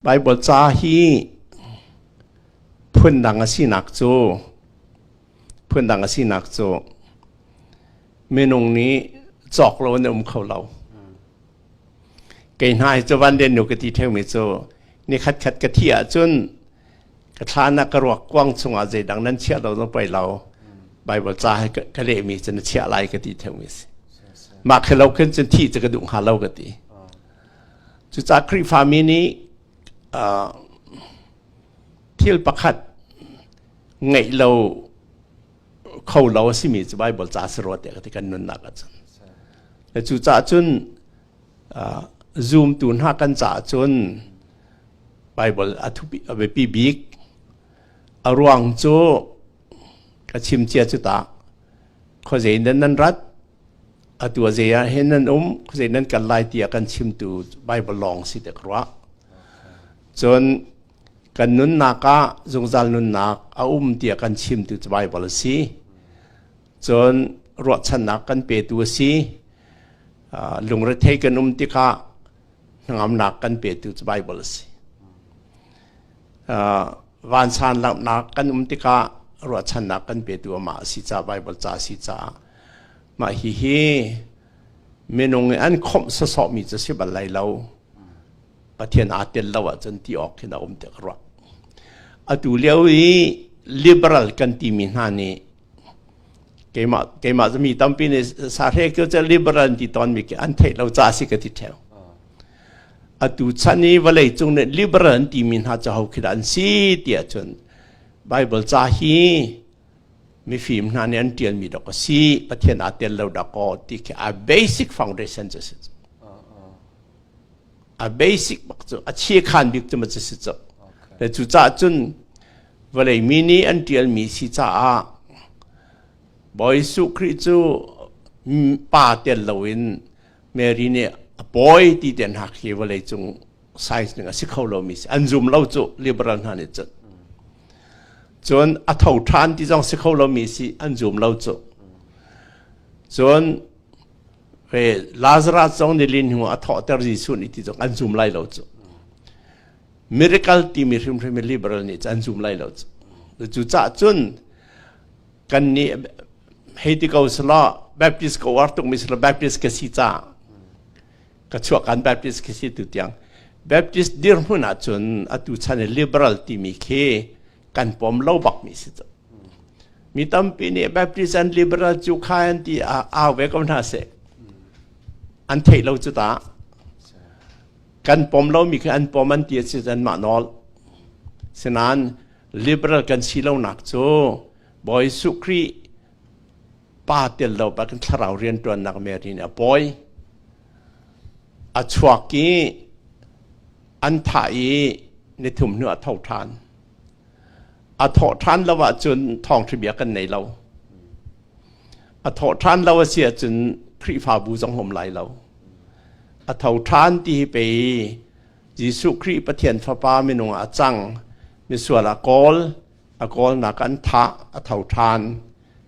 Baibal ca hi phundang a sinak cu phundang a sinak cu minung nih cawk lo in a um kho lo. Kei hna hi cu van den nu ka ti theumi cu ni khat khat ka thi ahcun ka thlan ah ka ruak kuang chungah zeidang nan chiah lo zong poi lo Baibal ca hi ka, ka lehmi cu na chiah lai ka ti theumi a si. Mah khi lo khin cun thih cu ka duh hnga lo ka ti. Cucah Khrihfami nih uh, thil pakhat ngeih lo kho lo a simi cu Baibal ca si rua te ka ti kan nunnak ah cun. Le cucah cun uh, zoomtu hna kan caah cun Baibal a thupi a biapi bik a ruang cu ka chimcia cu ta khuazei nan nan rat Atu a zei ah hin nan um, zei nan kal lai tiah kan chimtu Baibal lawng si te ka ruah. Cun kan nunnak ah zungzal nunnak a um tiah kan chimtu cu Baibal a si. Cun ruahchannak kan petu a si. Uh, lungrethei kan um tikah hnangamnak kan petu cu Baibal a si. Uh, vansan langhnak kan um tikah ruahchannak kan petu amah a si caah Baibal ca a si caah Mah hihi minung i an khawmh sawsawhmi cu si bal lai lo. Pathian aa tel lo ahcun ti awk khin a um tiah ka ruah. Atu lio i liberal kan timi hna nih keimah keimah cu mi tampi nih sahre kio cu liberal ti tawnmi khi an theih lo ca si ka ti theo. Atu chan i vawlei cung nih liberal an timi hna cu ho khi dah an si tiah cun Bible ca hi mifim hna nih an ṭialmi dok a si Pathian aa tel lo dak aw ti khi a basic foundations a si a basic bak cu a chiekhan bik cu ma cu si cu cu caah cun vawlei mi nih an ṭialmi si caah Bawi Jesuh Khrih cu pa tel loin Mary nih a pawi ti te hna khi vawlei cung size ding a si kho lomi si an zum lo cu liberal hna nih cun cun a tho ṭhan ti zong si kho lomi si an zum lo cu cun ve Lazarus zong nilin hnu a thawhter Jesuh nih ti zong an zum lai lo cu miracle timi hrimhrim liberal nih cu an zum lai lo cu cu cah cun kan nih hei ti ko selaw Baptist ka uar tukmi selaw Baptist ka si ca ka chuah kan baptist khi si tu tiang baptist dirhmun ah cun atu chan i liberal timi khi kan pom lo bak mi si cu mi tampi nih baptist and liberal cu kha an ti au ve ko hna seh an theih lo cu ta kan pom lo mi khi an pom an ti si cun mah nawl sinan liberal kan si lo nak cu Bawi Su Khrih pa tel lo bakin thlarau rianṭuannak merin a pawi a chuak i an thah i ni thum hnu a tho ṭhan a thawh ṭhan lo ahcun thawngṭhabia kan nei lo a thawh ṭhan lo a si ahcun Khrihfabu zong um lai lo a tho ṭhan ti hi pei Jesuh Khrih Pathian Fapa minung ah a cang misual a kawl A kawlnak an thah, a tho ṭhan.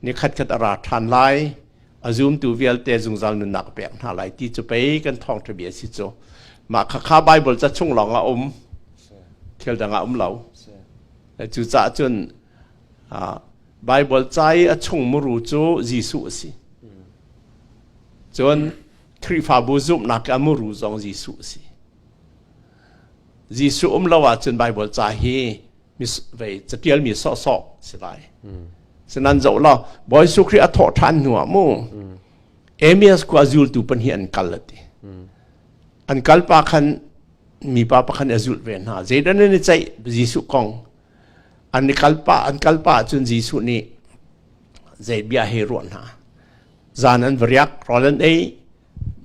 Ni khatkhat a ra ṭhan lai. A zumtu vialte zungzal nunnak a pek hna lai ti cu pei kan thawngṭha bia a si cu. Mah kha kha Baibal ca chung lawng a um. Thil dang a um lo. Cucaah cun Baibal ca i a chung muru cu Jesuh a si. Cun Khrihfabu zumhnak i a muru zong Jesuh a si. Jesuh um lo ahcun Baibal ca hi catialmi sawhsawh si lai sinan zoh law bawi su khrih a thawh ṭhan hnu ah mu emias ku a zultu pan hi an kal a ti an kal pa khan mipa pakhan a zulh ve hna zeidan nan i ceih jesuh kong an i kalpa an kalpa cun jesuh nih zei bia he ruah hna zan an va riak rawl an ei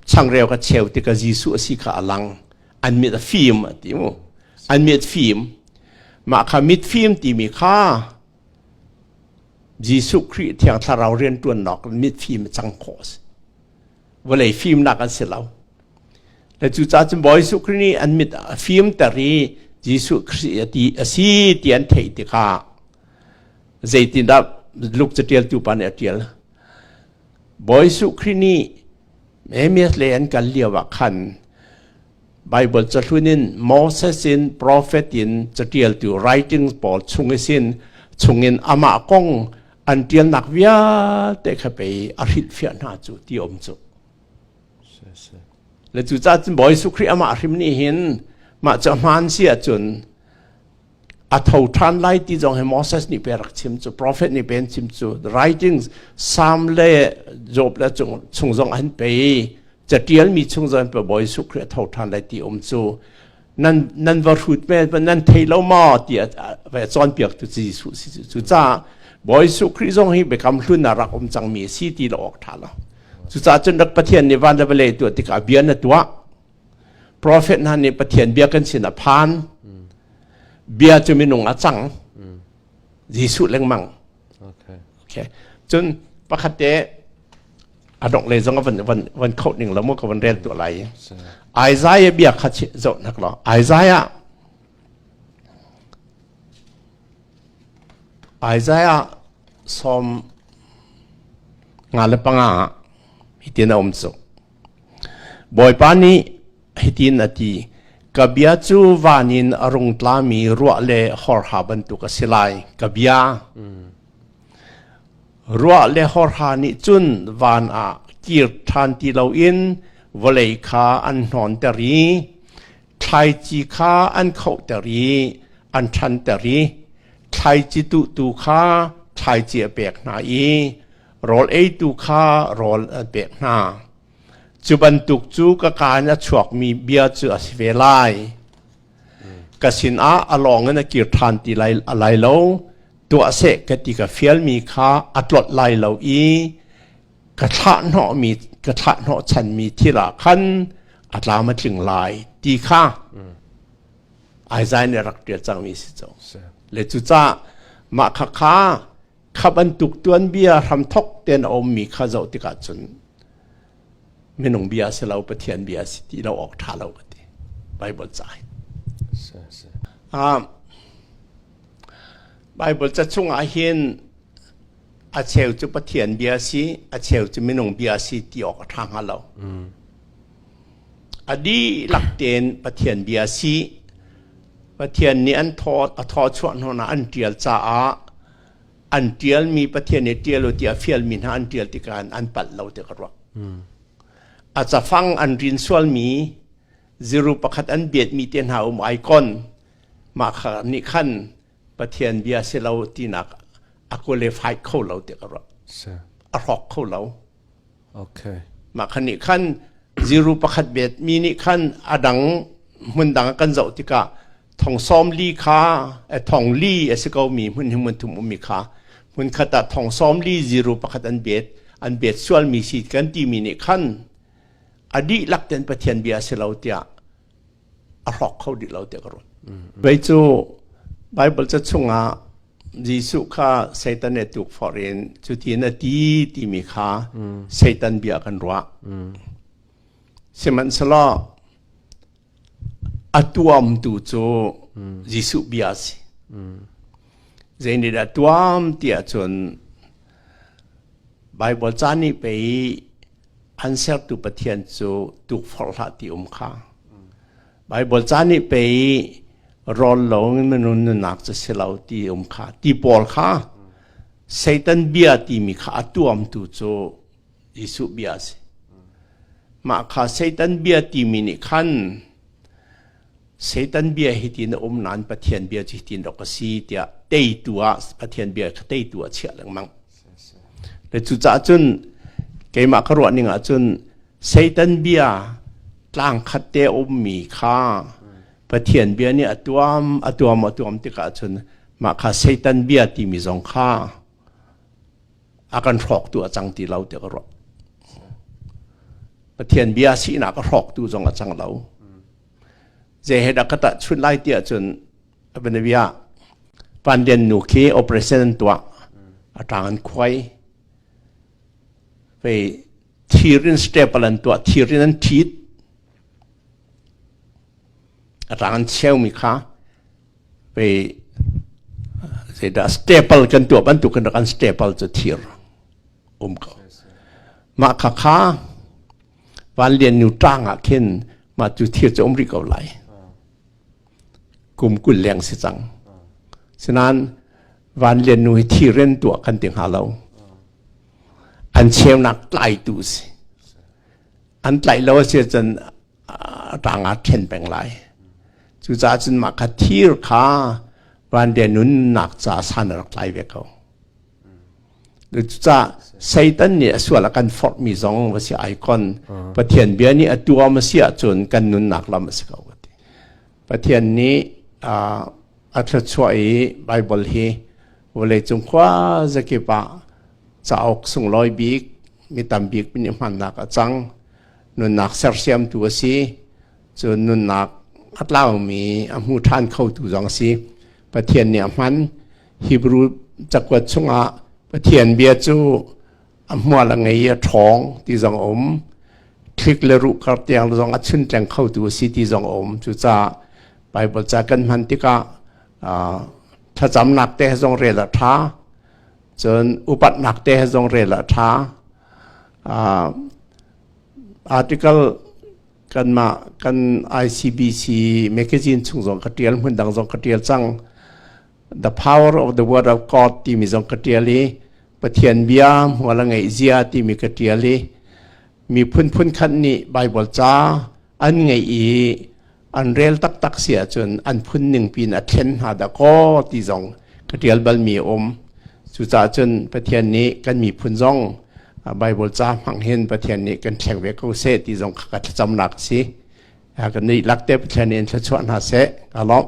changreu ka cheu ti ka Jesuh a si kha a lang an mit a fim a ti mu an mit fim mah kha mit fim timi kha Jesuh Khrih thiang thlarau rian tuan nok mit fim cang khawh a si vawlei fimnak an si lo le cu ca cu Bawi Jesuh Khrih nih an mit a fim ter i Jesuh Khrih a ti a si ti an thei ti kha zeitindah Luke catial tu pa nih a tial Bawi Jesuh Khrih nih Moses le an kal lio ah khan Baibal cahlun in Moses in profet in caṭialtu writings pawl chung i sin chungin amah kong an ṭialnak vialte kha pei a hrilhfiah hna cu ti a um cu. Le cucaah cun Bawi Jesuh Khrih amah a hrim nih hin mah cu a hmaan si ahcun A tho ṭhan lai ti zong hi Moses nih pe a rak chim cu profet nih pe an chim cu the writings Psalm le Job le chung, chung zong an pe i catialmi chung zong an pe Bawi Jesuh Khrih a tho ṭhan lai ti um cu nan nan va hrut ve nan thei lo maw ti a va cawnpiak tu Jesuh si cu cucaah Bawi Jesuh Khrih zong hi biakam hlun ah rak um cangmi a si ti lo awk ṭha lo cucaah cun rak Pathian nih van le vawlei tuah tikah bia na tuah profet hna nih pathian bia kan sinah phan bia cu minung a cang jesuh lengmang okay. cun pakhatte a dongh le zong van van van kho ning lo mu ka van rel tu lai Isaiah bia kha zoh nak lo Isaiah Isaiah som nga le panga hi tin a um chu Bawipa nih hitin a ti, Ka bia cu van in a rung tlami ruah le hawrha bantuk a si lai, ka bia. Ruah le hawrha nih cun van ah kir ṭhan ti loin vawlei kha an hnonter i thlaici kha an khohter i an ṭhanter i thlaici tuhtu kha thlaici a pek hna i rawl eitu kha rawl an pek hna. Cu bantuk cu ka kaa in a chuakmi bia cu a si ve lai. Ka sinah a lawng in a kir ṭhan ti lai, a lai lo, tuah seh ka ti ka fialmi kha a tlot lai lo i ka thlahhnawhmi ka thlahhnawhchanmi thil ah khan a tlam a tling lai ti kha Isaiah nih a rak ṭial cangmi a si cang. Le cucah mah khakha kha bantuk tuanbia hramthok tein a ummi kha zoh tikah cun minung bia si lo pathian bia si ti lo awk ṭha lo ka ti bible ca hi um, bible ca chungah hin a cheu cu pathian bia si a cheu cu minung bia si ti awk a ṭha hnga lo a dihlak tein pathian bia si pathian nih an thaw a thaw chuah hnanak an ṭial caah an ṭialmi Pathian nih ṭial u tiah fialmi hna an ṭial tikah an palh lo tiah ka ruah. A cafang an rin sualmi ziru pakhat an biatmi te hna um icon mah kha nih khan Pathian bia si lo tinak a qualified kho lo tiah ka ruah. A hrawk kho lo. Mah khan nih khan ziru pakhat bet mi nih khan a dang hmun dang ah kan zoh tikah thongsawm li kha thong li a si ko mi hmun hnih hmun thum ummi kha hmunkhat ah thongsawm li ziru pakhat an bet an bet sualmi si kan timi nih khan a dihlak ten Pathian bia a si lo tiah a hrawk kho dih lo tiah ka ruat. Pei cu Baibal ca chungah Jesuh kha Satan nih tuk forh in cutin a ti timi kha Satan bia kan ruah. Sihmanhsehlaw a tuamtu cu Jesuh bia a si. Zeinit a tuam tiah cun Baibal ca nih pei An sertu Pathian cu tukforh hlah ti um kha. Baibal ca nih pei rawl lo in minun nunak cu si lo ti um kha. Ti pawl kha Satan bia timi kha a tuamtu cu Jesuh bia a si. Mah kha Satan bia timi nih khan Satan bia hitin a um nain Pathian bia cu hitin rawk a si tiah teitu ah Pathian bia kha teitu ah chiah lengmang. Cucaah cun keimah ka ruahning ah cun Satan bia tlangkhat te a ummi kha Pathian bia nih a tuam a tuam a tuam tikah cun mah kha Satan bia timi zong kha a kan hrawktu a cang ti lo ti ka ruah Pathian bia sinak a hrawktu zong a cang lo zei he dah ka tah chun lai ti ahcun abanavia pandian nu khi operation an tuah a tang an khuai pei thirin staple an tuah thirin an thit a tang an cheu mi kha Pei zeidah staple kan tuah bantuk kan rak an staple cu thir um ko. Mah kha kha Van Lian Nu ṭang ah khin mah cu thir cu um rih ko lai. Kum kul leng si cang. Sinain Van Lian Nu hi thir in tuah kan ti hnga lo. An cheunak tlaitu si. An tlaih lo a si cun a tang ah ṭhen peng lai. Cucaah cun mah kha thir kha vanriah nunnak caah san a rak tlai ve ko. Cucaah Satan nih a sual a kan forhmi zong va si icon Pathian bia nih a tuam a si ahcun kan nunnak lam a si ko. Pathian nih a thluachuah i Bible hi vawleicung khua zakip ah cauk sunglawi bik mi tam bik min i hmannak a cang. nunnak sersiamtu a si cun nunnak a tlaumi a hmu ṭhan khotu zong a si Pathian nih a hman Hebrew cakuat chungah Pathian bia cu a hmual a ngei a ṭhawng ti zong a um thlik le ruh kar tiang zong a chun tleng khotu a si ti zong a um cucaah Bible ca kan hman tikah thlacamnak te zong rel a ṭha cun upatnak te zong rel a ṭha article kanmah kan ICBC magazine chung zong ka tial hmun dang zong ka tial cang the power of the word of God timi zong ka tial i Pathian bia hmual a ngeih zia timi ka tial i mi phunphun khat nih Bible ca an ngeih i an rel taktak si ahcun an phun ning pin a thlen hna dah kaw ti zong ka ṭial balmi a um. Cucaah cun Pathian nih kan miphun zong Baibal ca hmang hin Pathian nih kan thleng ve ko seh ti zong ka thlacamnak a si. Ka nuih lak te Pathian in thluachuah hna seh. Ka lawmh.